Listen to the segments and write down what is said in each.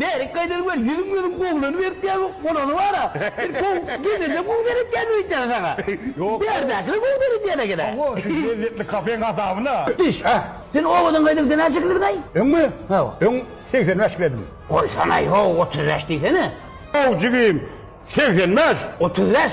Bärik gaýdan gör, ýüzüň gözüň gowulanyberipdi ýa ýok, bolany bar-a. Bir gowy, gelneje gowy seretýändir öýtýän saňa. Ýok. Bärdäkiler gowy seredýän eken-ä. Hawa, şu lezzetli kafeň gazabyna. Düş, a. Sen obadan gaýdygda näçe kilodiňaý? Öňmi? Hawa. Öň segsen bäş kiledim. Goýsana-aý, ho, otuz bäş diýsene. Haw, jigim, segsen bäş. Otuz bäş?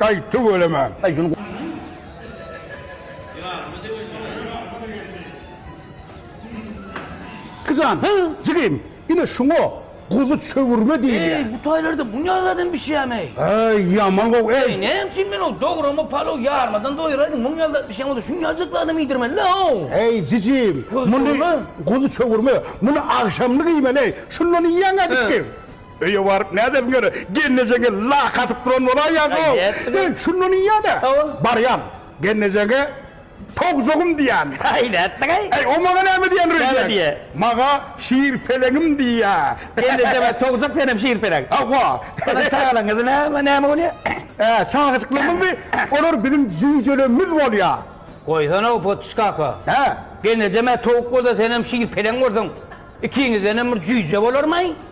Aý tüweleme. Jan, jigim, ine şuňa guzy çöwürme diýilýär. Eý, bu taýlarda bu ne zadam bişýäm-eý? Eý, ýaman gowy, eý! Eý, näme üçin men ol dograma palow ýarmadan doýuraýdym, muny ýaly zat bişen bolsa şuňajykly adam iýdirmeli-le-ow! Eý, jijim, muny, guzy çöwürme, muny agşamlyk iýmeli-eý, şundan iýýäň-ä dikgiň! Öýe baryp nädersiň ýöne, gelnejeňe lak atyp duran bolaýýaň-ow! Nätdiler? Şunda niýe-dä? Barýan, gelnejeňe towzugym diýýän. Äý, nätdiň-aý? Äý, o maňa näme diýen rejek? Näme diýýä? Maňa şirpeleňim diýýä. Gelnejeňe towzuk, senem şirpeleň. Hawa. Onuň çagalaňyzy näme, näme bolýa? Ä, çagajyklarymyzmy? Olar biziň jüýjelerimiz bolýa. Goýsana-ow, Potüş kaka. Hä? Gelnejem-ä towuk bolsa, senem şirpeleň bolsaň, ikiňizdenem bir jüýje bolarmy-aý?